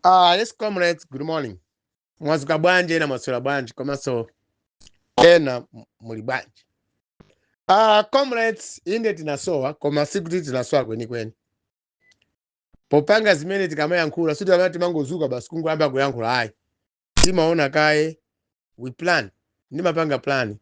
Ah, yes comrades, good morning. Mwazuka bwanji ena mwaswera bwanji komanso ena m- muli bwanji. Ah, comrades inde tinasowa koma sikuti tinasowa kwenikweni. Popanga zimene tikamayankhula sikuti amene timangozuka basi kungoyamba kuyankhula ayi. Timaona kaye we plan ndimapanga plan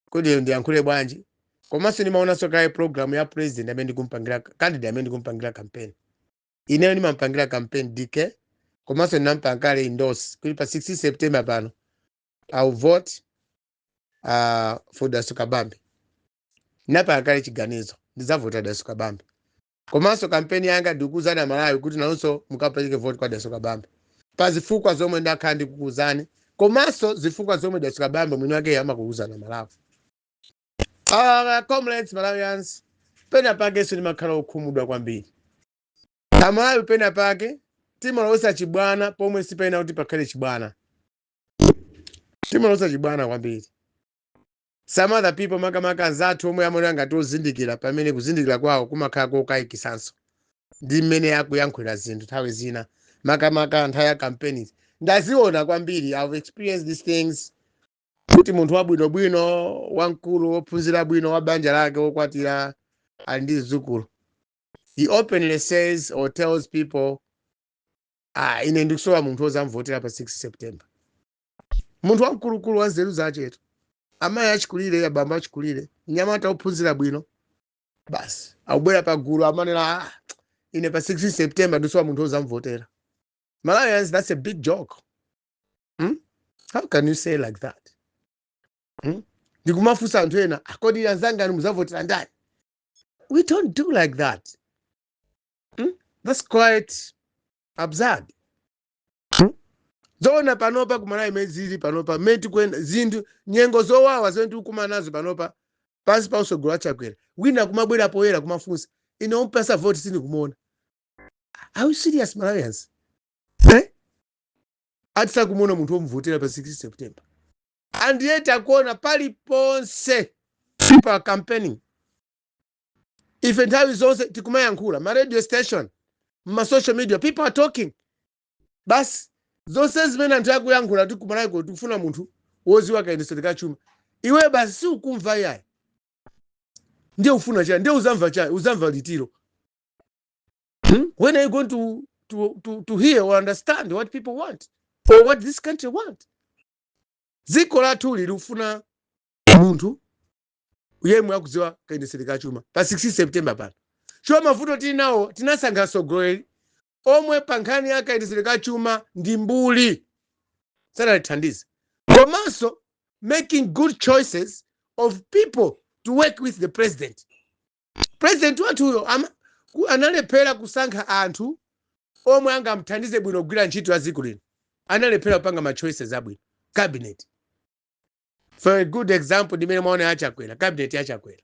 kuti ndiyankhule bwanji komanso ndimaonanso kaye program ya president amene ndikumpangira candidate amene ndikumpangira campaign. ineyo ndimampangira campaign dk komanso ndinampanga kale endorse kuti pa 16 september pano i'll vote uh, for dalitso kabambe ndinapanga kale chiganizo ndidzavota dalitso kabambe komanso kampeni yanga ndikukuuzani amalawi kuti nanunso mukapeleke voti kwa dalitso kabambe pa zifukwa zomwe ndakhala ndikukuuzani komanso zifukwa zomwe dalitso kabambe mwini wakeyo amakuuzani amalawi Ah, comrades malawians pena pakenso ndimakhala okhumudwa kwambiri amalawi pena pake timalowesa chibwana pomwe sipayenera kuti pakhale chibwana timalowesa chibwana kwambiri some other people makamaka anzathu omwe amaoneka ngati ozindikira pamene kuzindikira kwawo kumakhala kokayikisanso ndi mmene akuyankhulira zinthu nthawi zina makamaka nthawi ya campaigns ndaziona kwambiri i've experienced these things kuti munthu wabwinobwino wamkulu wophunzira bwino wa banja lake wokwatira ali ndi zidzukulu he openly says or tells people ah ine ndikusowa munthu wozamvotera pa 16 september munthu wamkulukulu wa nzeru zachetu amayi achikulire abambo achikulire mnyamata wophunzira bwino basi akubwera pa gulu amanena ah, ine pa 16 september ndikusowa munthu wozamvotera malawians that's a big joke hmm? how can you say like that hmm? ndikumafunsa anthu ena a kodi anzangani muzavotera ndani we don't do like that hmm? that's quite absurd hmm? zoona panopa kumalawi mmene zili panopa mmene zikuyenda zinthu nyengo zowawa zimene tikukumana nazo panopa pansi pa usogolo wa chakwera wina kumabwera poyera kumafunsa ine ompasa voti sindikumuona are you serious malawians eh? ati sakumuona munthu omuvotera pa 16 september and yet akuona paliponse people are campaigning ife nthawi zonse tikumayankhula ma radio station ma social media people are talking basi zonse zimene anthu akuyankhula kuti kumalawi kuno tikufuna munthu woziwa kayendetsedwe ka chuma iwe basi siukumva yayi ndiye ufuna chani ndiye uzamva chani uzamva litiro Hmm? When are you going to, to, to, to hear or understand what people want or what this country want? Dziko lathu likufuna munthu yemwe akudziwa kayendetsedwe ka chuma pa 16 September pano. Chomwe mavuto tili nawo tinasankha atsogoleri omwe pa nkhani ya kayendetsedwe ka chuma ndi mbuli sanalithandize. Komanso making good choices of people to work with the president. president wathuyo ama- ku- analephera kusankha anthu omwe angamthandize bwino kugwira ntchito ya dziko lino analephera kupanga ma choices abwino cabinet for a good example ndimene mwaona ya achakwera cabinet ya achakwera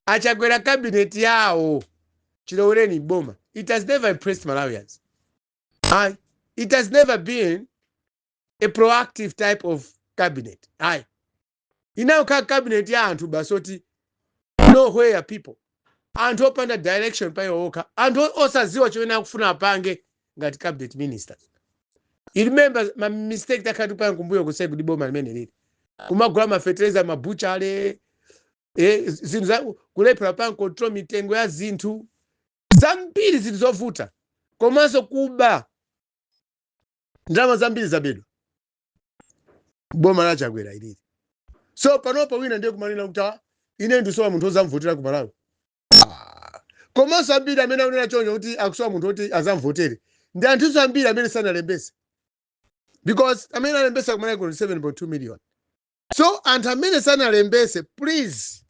achakwera cabinet yawo chilowereni m'boma it has never impressed malawians ayi it has never been a proactive type of cabinet ayi inangokhala cabinet ya anthu basi oti nowhere people anthu opanda direction pa iwo okha anthu o- osaziwa chimene akufuna apange ngati cabinet minister you remember ma mistake takhala tikupanga kumbuyoku si kuti boma limeneli kumagula mafertilizer mabuchale eh, zinthu za kulephera kupanga control mitengo ya zinthu zambiri zinthu zovuta komanso kuba ndalama zambiri zabedwa boma la achakwera ilili so panopa wina ndiye kumanena kuti "Ah, ine ndisowa munthu ozamvotera ku malawi Ah, komanso ambiri amene akunena choncho kuti akusowa munthu oti azamvotere ndi anthuso ambiri amene sanalembese because amene alembesa kumalawi kuno 7.2 million so anthu amene sanalembese please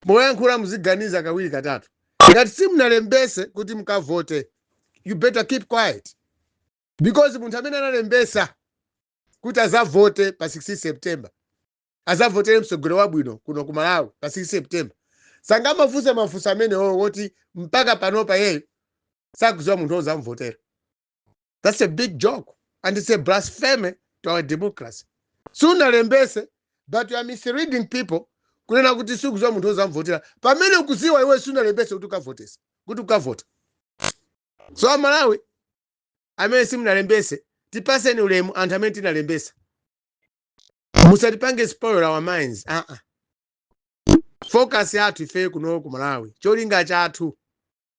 moyankhula muziganiza kawiri katatu ngati simunalembese kuti mukavote you better keep quiet because munthu amene analembesa kuti azavote pa 16 september azavotere mtsogoleri wabwino kuno ku malawi pa 16 september sangamafunse mafunso amenewo woti mpaka panopa iyeyo sakuziwa munthu ozamvotera that's a big joke and it's a blasphemy to our democracy sunalembese but you are misleading people kunena kuti sikuziwa munthu ozamvotera pamene ukuziwa iwe sunalembese kuti ukavotesa kuti ukavota so amalawi amene simunalembese tipaseni ulemu anthu amene tinalembesa musatipange spoil our minds aa uh -uh. focus yathu ifeyo kuno ku malawi cholinga chathu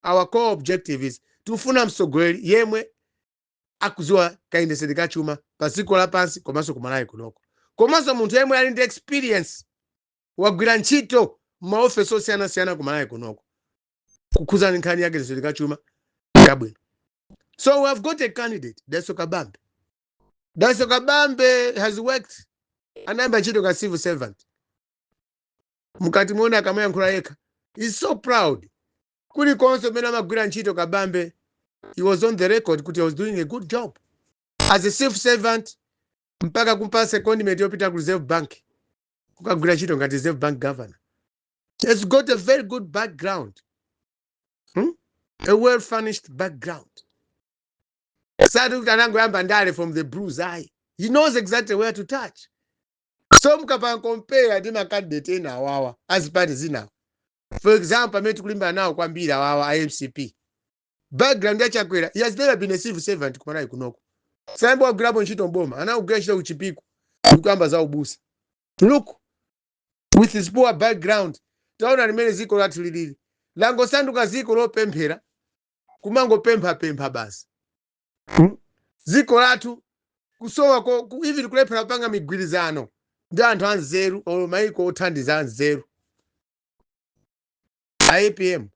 our core objective is tifuna mtsogoleri yemwe akudziwa kayendetsedwe ka chuma pa dziko lapansi komanso ku malawi kunoko komanso munthu yemwe ali ndi experience wagwira ntchito m'maofesi osiyanasiyana ku malawi kunoko kukhudzana nkhani ya kayendetsedwe ka chuma kabwino so we have got a candidate dalitso kabambe dalitso kabambe has worked anayamba ntchito ka civil servant mukati muona akamayankhula yekha is so proud kulikonse kumene amagwira ntchito kabambe he was on the record kuti he was doing a good job as a civil servant mpaka kumpatsa secondment yopita ku reserve bank kukagwira ntchito ngati reserve bank governor has got a very good background, hmm? a well furnished background. Sikuti anangoyamba ndale from the blues ayi. He knows exactly where to touch. So mukapanga compare ndi makandidate ena awawa azipati zinawo. For example, amene tikulimbana nawo kwambiri awawa a MCP. Background ya Chakwera, he has never been a civil servant kumalawi kunoko. Sanayambe wagwirapo ntchito mboma, anakagwira ntchito kuchipiku, ndikuyamba za ubusa. Look, with his poor background taona mmene dziko lathu lilili langosanduka dziko lopemphera kumangopemphapempha basi Hmm? dziko lathu kusowa ko- ku- even kulephera kupanga migwirizano ndi anthu anzeru olo maiko othandiza anzeru a apm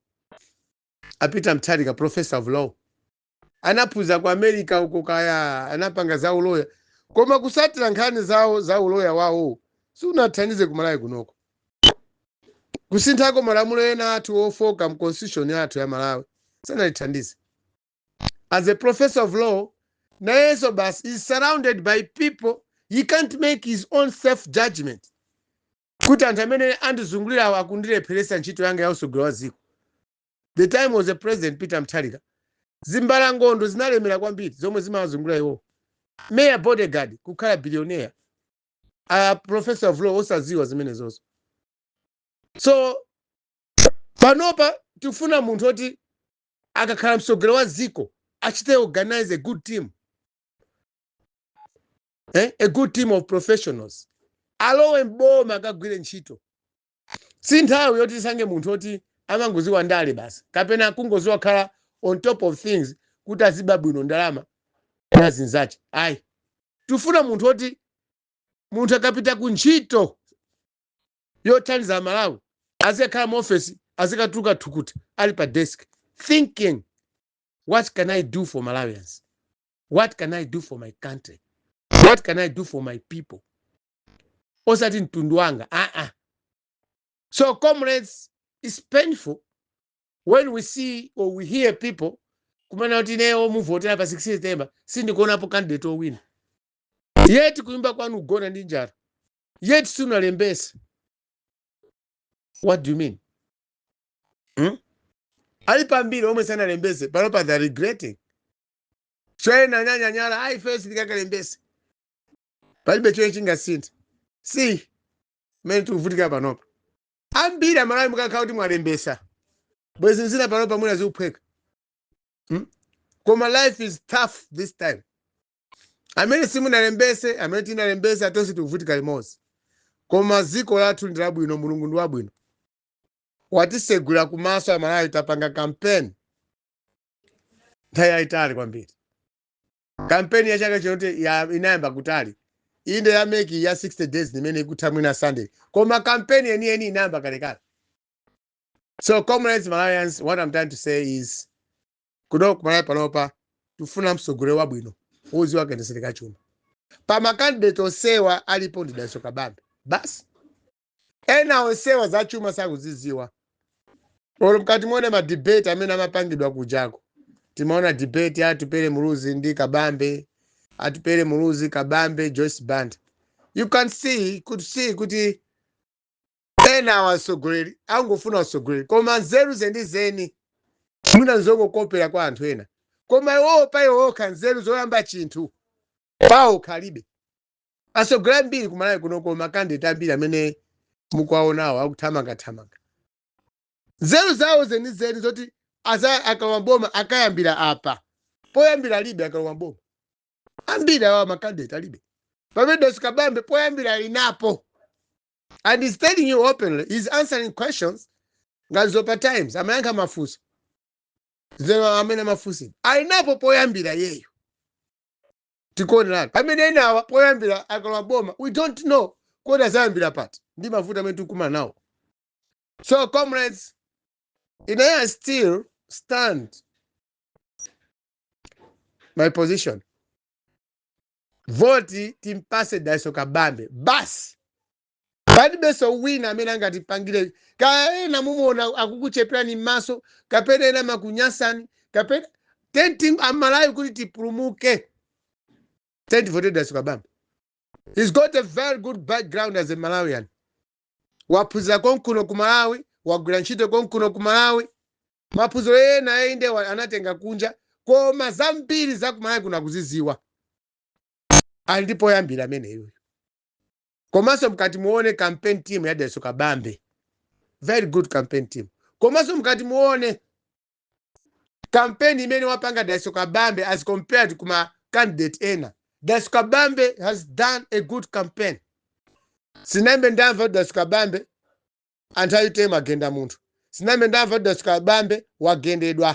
a peter mutharika professor of law anaphunzira ku america uko kaya anapanga za uloya koma kutsatira nkhani zawo za uloya wawo sunathandize kumalawi kunoko kusinthako malamulo ena athu ofoka mu constitution yathu ya malawi sanatithandize as a professor of law nayenso basi is surrounded by people he can't make his own self judgment kuti anthu amene andizungulirawo akundilepheresa ntchito yanga ya utsogoleri wa dziko the time was a president peter mutharika zimbalangondo zinalemera kwambiri zomwe zimawazungulira iwowo mere bodyguard kukhala billionaire a professor of law osadziwa zimenezozo so panopa tikufuna munthu oti akakhala mtsogoleri wa dziko achite organize a good team eh? a good team of professionals alowe mboma akagwire ntchito si nthawi yoti tisankhe munthu oti amangodziwa ndale basi kapena kungodziwa kukhala on top of things kuti aziba bwino ndalama na anzache ayi tifuna munthu oti munthu akapita ku ntchito yothandiza malawi azikakhala muofesi azikatuluka thukuta ali pa desk thinking what can i do for malawians what can i do for my country what can i do for my people osati mtundu wanga aa ah, ah. so comrades it's painful when we see or we hear people kumanena kuti ineyo omuvotera pa 16 september sindikuonapo candidate owina yet kunyumba kwanu ukugona ndi njala yet sunalembese what do you mean hmm? ali pambiri omwe sanalembese panopa they're regretting so ena anyanyanyala ayi first ndikakalembese palibe chimene chingasinthe si mmene tikuvutika panopa ambiri amalawi mukanakhala kuti mwalembesa bwezi zina panopa mwina zikuphweka hmm? koma life is tough this time amene simunalembese amene tinalembesa tonse tikuvutika limodzi koma dziko lathu ndi labwino mulungu ndi wabwino watisegula kumaso amalawi tapanga kampeni nthawi yayitali kwambiri kampeni ya chaka chinotu inayamba kutali inde ya MEC ya 60 days imene ikutha mwina sunday koma kampeni yeniyeni inayamba kalekale so comrades malawians what i'm trying to say is kuno kumalawi panopa tifuna mtsogoleri wabwino wodziwa kayendetsedwe ka chuma pa makandidate onsewa alipo ndi dalitso kabambe basi Ena onsewa za chuma sakuziziwa. Olo mukati muone ma debate amene amapangidwa kujako. Timaona debate ya Atupele Muluzi ndi Kabambe, Atupele Muluzi, Kabambe, Joyce Banda. You can see, could see kuti ena awa atsogoleri angofuna utsogoleri koma nzeru zenizeni mwina nzongokopera kwa anthu ena koma iwowo pa iwo okha nzeru zoyamba chinthu pawokha alibe atsogoleri ambiri ku malawi kuno kuno makandidate ambiri amene mukuwaonawo akuthamangathamanga nzeru zawo zenizeni zoti aza- akalowa boma akayambira apa poyambira alibe akalowa boma ambiri awa makandidate alibe pamene dalitso kabambe poyambira alinapo and he's telling you openly he's answering questions ngati dzulo pa times amayankha mafunso zeno amene amafunsidwa alinapo poyambira iyeyo tikuoneratu pamene enawa poyambira akalowa boma we don't know kodi azayambira pati ndi mavuto amene tikukumana nawo so comrades ine i still stand my position voti timpase dalitso kabambe basi palibenso wina amene angatipangire kaya ena mumuona akukucheperani m'maso kapena ena amakunyasani kapena chani amalawi kuti tipulumuke tiyeni tivotere Dalitso Kabambe he's got a very good background as a malawian waphunzira konkuno ku malawi wagwira ntchito konkuno ku malawi maphunziro ena inde anatenga kunja koma zambiri za ku malawi kuno akuziziwa ali ndi poyambira ameneyoyo komanso mkati muone campaign team ya Dalitso Kabambe very good campaign team komanso mkati muone campaign imene wapanga Dalitso Kabambe as compared kuma candidate ena Dalitso Kabambe has done a good campaign sinnambe ndamva kuti Dalitso Kabambe Anthu a utm agenda munthu sinambe ndamva Dalitso Kabambe wagendedwa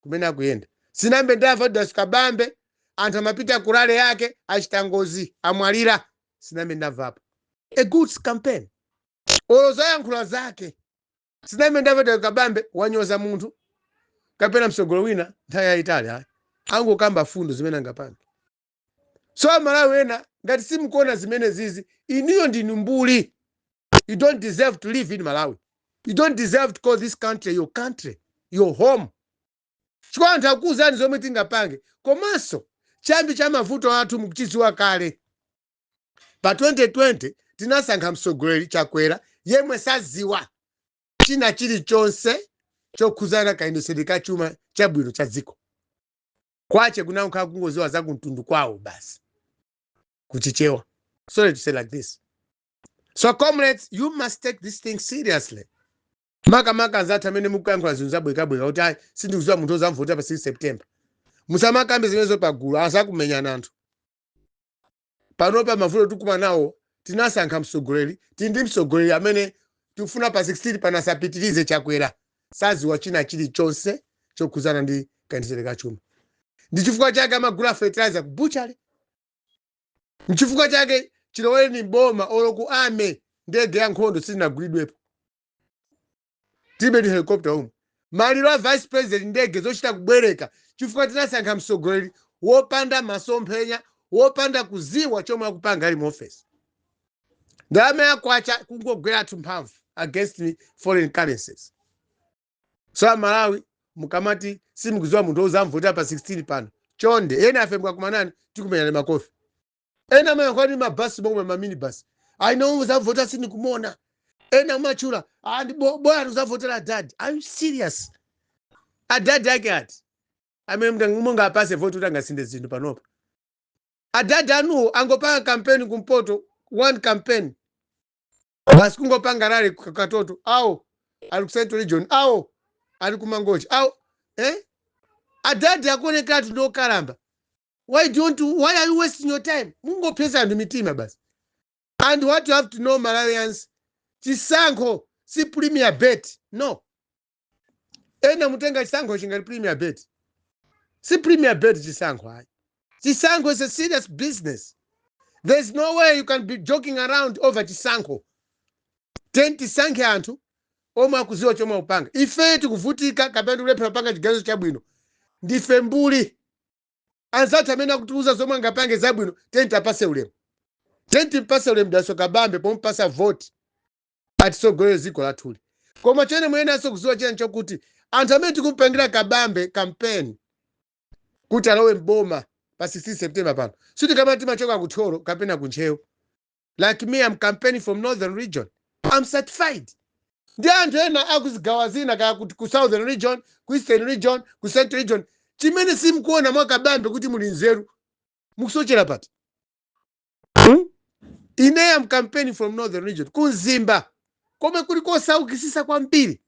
kumene akuyenda sinambe ndamva Dalitso Kabambe anthu amapita ku rally yake achita ngozi amwalira sinambe ndamvapo a good campaign olo zoyankhula zake sinambe ndamva Dalitso Kabambe wanyoza munthu kapena msogolo wina nthawi yayitali ayi angokamba fundo zimene angapange so amalawi ena ngati simukuona zimenezizi inuyo ndinu mbuli you don't deserve to live in malawi you don't deserve to call this country your country your home chifukwa anthu akuwuzani zomwe tingapange komanso chiyambi cha mavuto athu mukuchidziwa kale pa 2020 tinasankha mtsogoleri chakwera yemwe sadziwa china chilichonse chokhudzana kayendetsedwe ka chuma chabwino cha dziko kwache kunankha kungoziwa za kumtundu kwawo basi kuchichewa sorry to say like this so comrades you must take this thing seriously makamaka anzathu amene mukuyankhula zinthu zabwekabweka kuti ayi sindikuziwa munthu ozamvotera pa 16 september musamakambe zimenezo pagulu azakumenyani anthu panopa mavuto tikukumana nawo tinasankha mtsogoleri tili ndi mtsogoleri amene sitikufuna pa 16 pano asapitirize chakwera saziwa china chilichonse chokhudzana ndi kayendetsedwe ka chuma ndi chifukwa chake amagula fertilizer ku butchery nchifukwa chake chilowereni boma olo ku army ndege ya nkhondo silinagulidwepo tilibe ndi helicopter umu maliro a vice president ndege zochita kubwereka chifukwa tinasankha mtsogoleri wopanda masomphenya wopanda kuziwa chomwe akupanga ali mu office ndalama ya kwacha kungogwera kutha mphamvu against foreign currencies so amalawi mukamati simukuziwa munthu ozamvotera pa 16 pano chonde ena ife tikakumanani tikumenyani makofi ena amayankhula ndi mabasi momwe ma minibus ayi nawo uzavotera sindikumuona ena amatchula ah, ndi bo- bola tuzavotera adadi are you serious adadi ake ati amene mtang- munga apase voti kuti angasinthe zinthu panopa adadi anuwo angopanga kampeni kumpoto one campaign basi kungopanga rally ku katoto awo ali ku central region awo ali ku mangochi awo eh? adadi akuonekeratu ndi okalamba why don't why are you wasting your time mungophetsa anthu mitima basi and what you have to know malawians chisankho si premier bet no ena mutenga chisankho ngati premier bet si premier bet chisankho ayi chisankho is a serious business there's no way you can be joking around over chisankho tiyeni tisankhe anthu omwe akuziwa chomwe akupanga ife tikuvutika kapena tikulephera kupanga chiganizo chabwino ndife mbuli anzathu amene akutiuza zomwe angapange zabwino tiyeni tiapase ulemu tiyeni timpase ulemu dalitso kabambe pomupasa voti atisogolere dziko lathuli koma chimene muyeneranso kuziwa chiyani chokuti anthu amene tikumpangira kabambe kampeni kuti alowe mboma pa 16 september pano sikuti kapena timachoka kuthyolo kapena kuntcheu like me am campaigning from northern region am certified ndi anthu ena akuzigawa zina kaya ku, ku southern region ku eastern region ku central region chimene simukuona mwakabambe kuti muli nzeru mukusochera pati hmm? ine am campaigning from northern region ku mzimba komwe kuli kosaukisisa kwambiri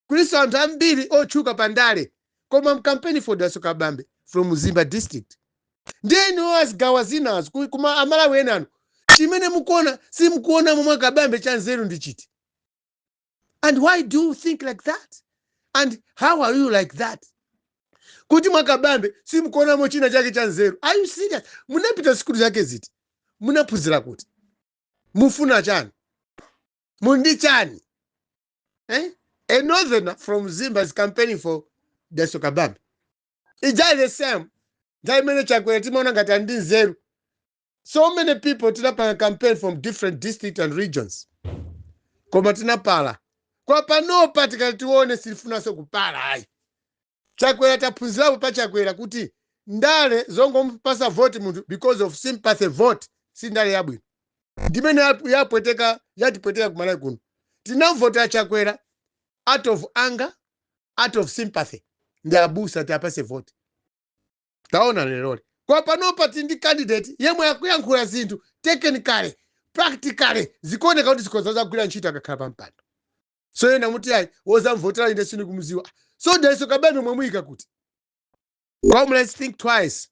kulinso anthu ambiri otchuka pa ndale koma am campaigning for Dalitso Kabambe from Mzimba district ndiye inuyo azigawa zinazo ku- kuma amalawi enanu chimene mukuona simukuonamo mwa Kabambe cha nzeru ndi chiti and why do you think like that and how are you like that kuti mwa Kabambe simukuonamo china chake cha nzeru are you serious munapita sikulu zake ziti munaphunzira kuti mufuna chani m'ndichani eh? a northerner from mzimba is campaigning for dalitso kabambe it's just the same nthawi imene chakwera timaona ngati ali ndi nzeru so many people tinapanga campaign from different district and regions koma tinapala koma panopa tikati tione sitifunanso kupala ayi Chakwera taphunzirapo pa Chakwera kuti ndale zongomupasa vote munthu because of sympathy vote si ndale yabwino ndimene yapweteka yatipweteka ku Malawi kuno tinamvotera Chakwera out of anger out of sympathy ndi abusa tiapase vote taona leroli koma panopa tili ndi candidate yemwe akuyankhula zinthu technically practically zikuoneka kuti zikhoza kuzagwira ntchito akakhala pa mpando so ena muti ayi wozamvotera ine sindikumuziwa so daliso kabambe mwamuyika kuti comrades think twice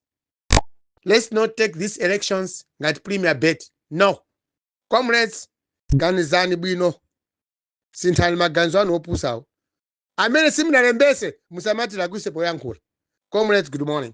let's not take these elections ngati premier bet no comrades ganizani bwino sinthani maganizo anu opusawo amene simunalembetse musamatira kwise poyankhula comrades good morning